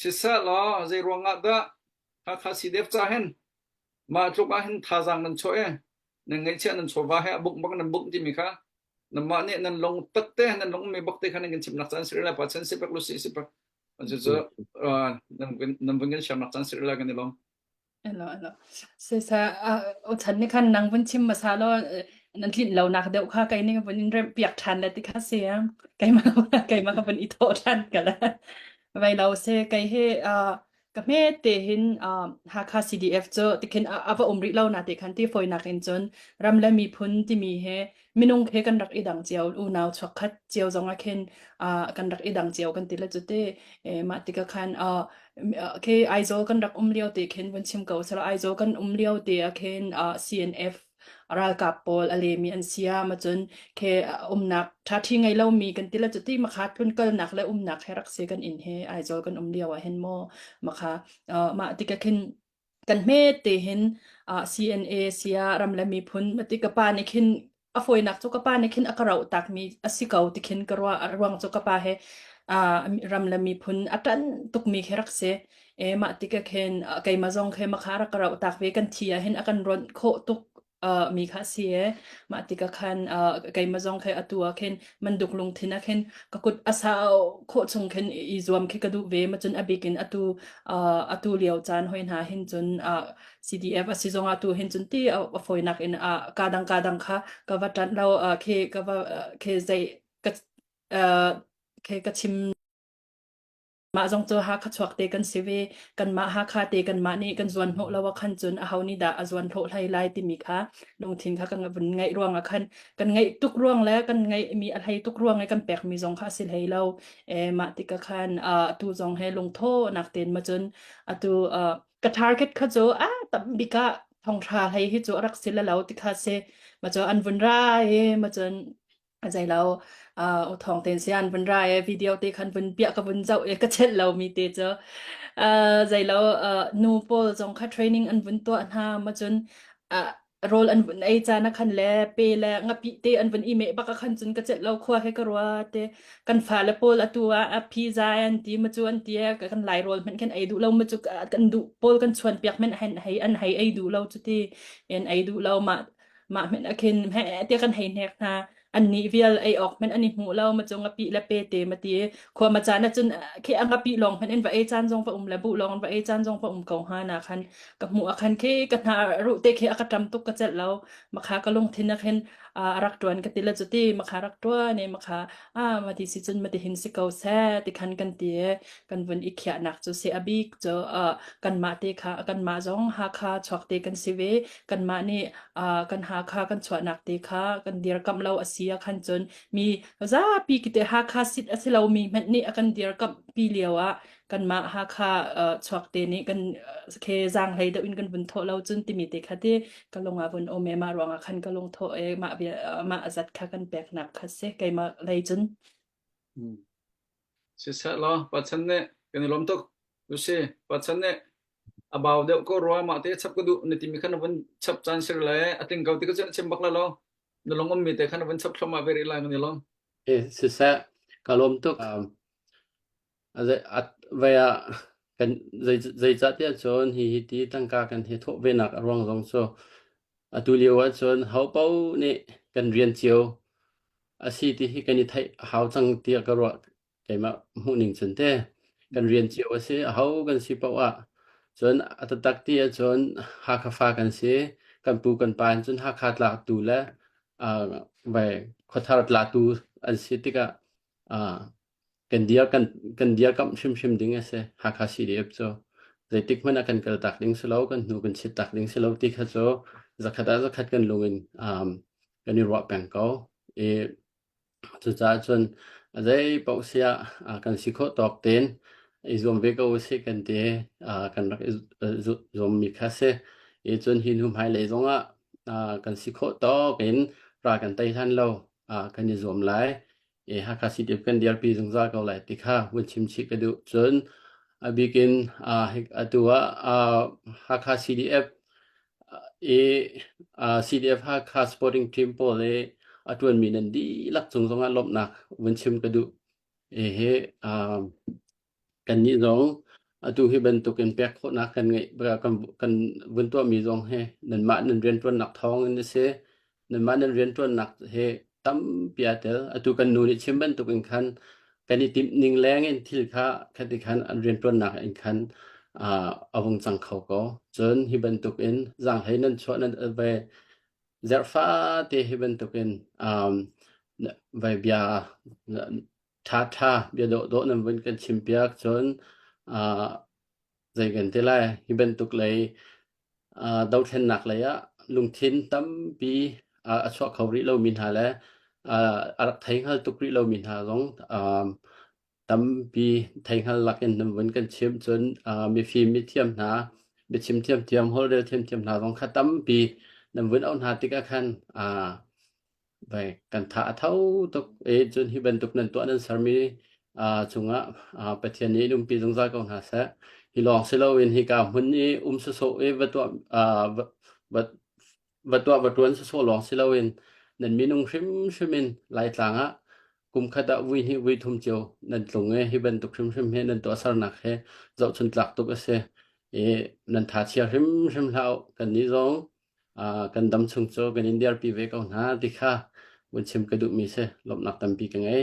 Siseh law zeiruangah dah Hakha CDF ca hin mah tluk ah hin thazaang nan chuah i nan ngaihchiah nan chawva he a buk bak nan buk timi kha nanmah nih nan lung pat te nan lungmi bak te kha nan kan chimnak caan si rih lai pa chan si pek lu si si pek cucu nan vun kan siamnak caan si rih lai kan i lawm. Elo, elo. Sesa, ah, ochan ni khan nang vun chim hmasa law, eh, nan tlinh lonak deuh kha kei nih vun in remh piak ṭhan le ti kha si. Keimah keimah ka vun i thawh ṭhan ka le. Vai lo se, kei hi, ah, ka hmete hin, ah, Hakha CDF cu tikhin a a va um rih lo na ti khan ti fawinak in cun ram le miphun timi hi minung he kan rak i dang cio unau chuakkhat cio zong ah khin uh, kan rak i dang cio kan ti le cu te e, mah tika khan uh, ke Aizawl kan rak um lio te khin vun chim ko sala Aizawl kan um lio te a khin uh, CNF ralkap pawl alemi an siam acun ke umnak thathi ngai lo mi kan tila cuti makha tlun kal nak le umnak he rak se kan in he Aizawl kan um lio ah hen mo makha uh, ma tika khin kan hmete hin ah CNA si ah ram le miphun mati ka pa nih khin a fawinak cu ka pa nih khin a ka roh takmi a si ko ti khin ka ruah ruang cu ka pa he ah ram le miphun a ṭan tukmi khi rak si. E mah tikah khin ah keimah zong khi makha rak ka roh tak ve kan thi ahhin a kan rawnh khawh tuk uh, mi kha si e mah tikah khan uh, keimah zong khe atu ah khin manduk lungthin ah khin ka kut asa kho chung khin i zuam khi ka duh ve ma cun abik in atu uh, atu lio caan hoi hna hin cun uh, CDF a si zong ah tu hin cun ti a foinak in uh, kadang kadang kha ka va tat lo uh, khi ka va uh, khi zei ka uh, khi ka chim Mah zong cu Hakha chuak te kan si ve. Kanmah Hakha te kanmah nih kan zuan hnawh lo ah khan cun aho nih dah a zuan hnawh hlei lai timi kha lungthin kha kan vun ngaih ruang ah khan kan ngaih tuk ruang le kan ngaihmi a hlei tuk ruang i kan pekmi zong kha a si hlei lo. Eh, mah tikah khan ah, atu zong he lungthonak ten ma cun atu ah, ka target kha cu a tam bik ah thawngtha hlei hi cu a rak si le lo tikha si. Ma cu an vun ra i ma cun a zei lo uh, thawng ten sian vun ra e video te khan vun bia ka vun zau e ka chet lomi te cu uh, zei lo uh, nu pawl zong kha training an vun tuah hna ma cun uh, rol an vun ei cha na khan le pe le ngapi te an vun i me baka khan cun ka chet lo khwa he ka rwa te kan fa le paul atu a a phi za an ti ma chu an ti e, ka kan lai rol men khen ei du lo ma chu kan du paul kan chuan piak men hen hei an hei ei du lo chu ti en ei du lo ma Mah hmin akhin heh ti kan hei hnek hna. Annih vial ei awk hmin an i hmu lo. Ma cung a pi le pe te ma ti. Khua ma caan acun khi ang a pi lawng hmin in va ei caan zong va um le bu lawng in va ei caan zong va um ko hnga na khan. Ka hmu akhan khi ka hna ruh te khi aka tam tuk ka cel lo. Makha ka lungthin akhin a rak tuan ka ti la cu ti. Makha rak tuan e makha Ah, mah ti si cun mah tihin si ko seh, tikhan kan ti. Kan vun i khiahnak cu si a bik cu, uh, kanmah te kha kanmah zong Hakha chuak te kan si ve. Kanmah nih, uh, kan Hakha kan chuahnak te kha kan dirkamh lo a si ahkhan cun mi zapi kite Hakha sit a si lomi hmanh nih a kan dirkamh pi lio ah kanmah Hakha uh, chuak te nih kan ke zang hlei deuh in kan vun tho lo cun timi te kha ti ka lung a vun om e ma ruang ah khan ka lung tho e ma vi ma azat kha kan pek nak kha se keima lei cun Hmm. Si set lo, pachan ne, kan i lom tuk. Lucy, pachan ne, abau deuh ko rua ma te chap ka du ni timi khan avun chap chan sir le ating kau ti ka chen chim bak la lo. Na long om mi te khan avun chap thloma very lai ngani lo. Eh, sisa, kalau untuk um, Zeicahtiah cun hihi ti tangka kan hi thawh venak a ruang zong cu atu lio ahcun hopaoh nih kan rian cio a si tihi kan i theih a hau cang tiah ka ruah keimah hmuhning cun te. Kan rian cio a si. Aho kan si paoh ah cun a taktak ti ahcun Hakha fa kan si. Kan pu kan pa in cun Hakha tlatu le khuathar tlatu an si tikah Kan dia kamh hrimhrim ding a si. Hakha CDF cu zeitik hmanh ah kan kal tak ding si lo, kan hnu kan chit tak ding si lo ti kha cu zakhat ah zakhat kan lung in kan i ruah peng ko. I cucaah cun zei paoh si ah kan si khawh tawk tein i zuam ve ko usih kan ti. Kan rak i zuammi kha si. I cun hi hnu hmailei zong ah kan si khawh tawk in ra kan tei hlan lo kan i zuam lai. Hakha City of kan dirpi zungzal ko lai ti kha vun chimchih ka duh. Cun a bik in atu ah Hakha CDF i CDF Hakha Sporting Team pawl i a ṭuanmi nan dihlak cung zongah lawmhnak vun chim ka duh. Hihi Kannih zong atu hi bantukin pek khawhnak kan ngeih kan kan vun tuahmi zong hi nanmah nan rianṭuannak thawngin a si. Nanmah nan rianṭuannak hi tampi aa tel. Atu kan nu nih chim bantukin khan kan i timhning lengin thil kha khati khan an rianṭuannak in khan ah a hung cang kho ko. Cun hi bantukin zaanghlei nan chuah nan vai zerh fate hi bantukin um vai bia Thatha biadawhdawh nan vun kan chim piak cun ah zei kan ti lai. Hi bantuk lei ah dothlennak lei ah lungthin tampi ah a chuah kho rih lomi hna le ah a rak thei hngal tuk rih lomi hna zong ah tampi thei hngal lakin nan vun kan chim cun ah mifim, mithiam hna, biachim thiamthiam, holhrel thiamthiam hna zong kha tampi nan vun auh hna tikah khan ah Baik, kan tha a thau tuk i cun hi bantuk nan tuah nan sermi aa cungah aa Pathian nih in umpi zungzal ko hna seh. Hi lawng si loin hika hmun i um sawsawh i va tuah aa va va va tuah va tuan sawsawh lawng si loin nan minung hrimhrim in Laitlang ah kum khat ah vui hnih vui thum cio nan tlung i hi bantuk hrimhrim hi nan tuahsernak hi zohchun tlak tuk a si. I nan tha chia hrimhrim hlah u. Kannih zong kan dam chung cu kan in dirpi ve ko hna ti kha vun chim ka duhmi si. Lawmhnak tampi ka ngei.